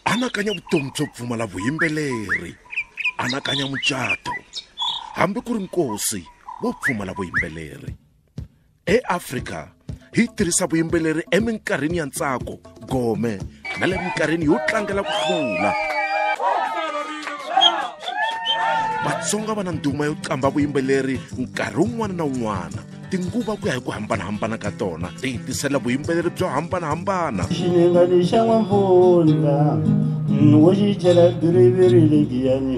anakanya vutomi byo pfumala vuyimbeleri anakanya mucato hambi ku ri nkosi wo pfumala vuyimbeleri eafrika hi tirhisa vuyimbeleri eminkarhini ya ntsako gome na le minkarhini yo tlangela ku hlula vatsonga va na nduma yo qambha vuyimbeleri nkarhi wun'wana na wun'wana tinguva ku ya hi ku hambanahambana ka tona ti yi tisela vuyimbeleri byo hambanahambana xininga lexa n'wampfundla wo xi chela biriviri legiyani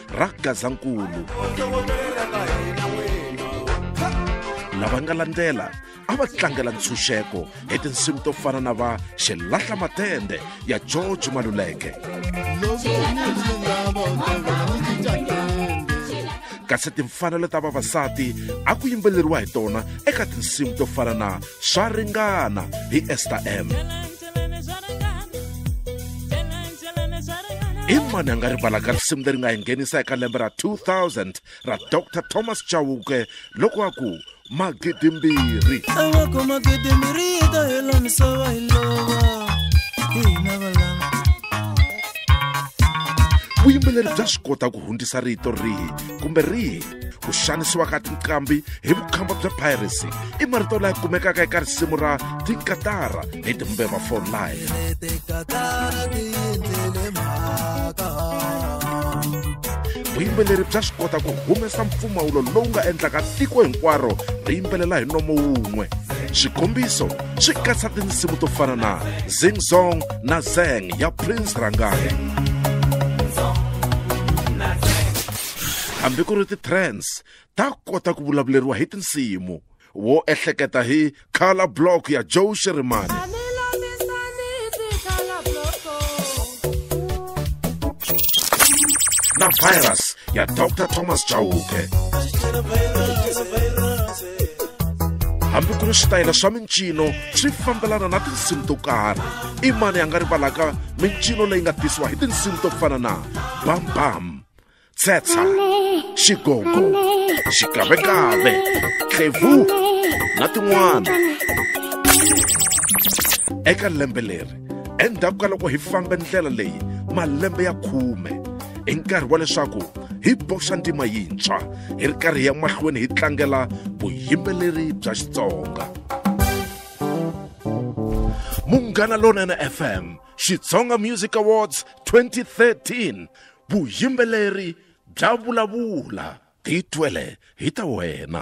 ra gazankulu lava nga landzela a va tlangela ntshunxeko hi tinsimu to fana na va xilahla matende ya george maluleke kasi timfanelo ta vavasati a ku yimbeleriwa hi tona eka tinsimu to fana na swa ringana hi ester m i mani a nga rivalaka risimu leri nga hi nghenisa eka lembe ra 2000 ra dr thomas chauke loko a ku magidimbirhi aloko magidimbirhi yi ta hela misava hi lova hi hina valava vuyimbeleri bya swi kota ku hundzisa rito rihi kumbe rihi ku xanisiwa ka tinqambi hi vukhamba bya piracy i marito laya kumekaka eka risimu ra tinkatara hi timbeva for life vuyimbeleri bya swi kota ku humesa mpfumawulo lowu nga endlaka tiko hinkwaro ri yimbelela hi nomo wun'we xikombiso swi katsa tinsimu to fana na zing zong na zeng ya prince rangani hambi ku ri ti-trends ta kota ku vulavuleriwa hi tinsimu wo ehleketa hi color block ya joe sherimani na virus ya dr thomas chauke hambi ku ri switayela swa mincino swi fambelana na tinsimu to karhi i mani a nga rivalaka mincino leyi nga tisiwa hi tinsimu to fana na bambam tshetsa xigogo xikavekave tlevu na tin'wana eka lembe leri endzhaku ka loko hi fambe ndlela leyi malembe ya khume i nkarhi wa leswaku hi boxa ntima yintshwa hi ri karhi ya mahlweni hi tlangela vuyimbeleri bya xitsonga munghana lonene fm xitsonga music awards 2013 vuyimbeleri bya vulavula ti twele hi ta wena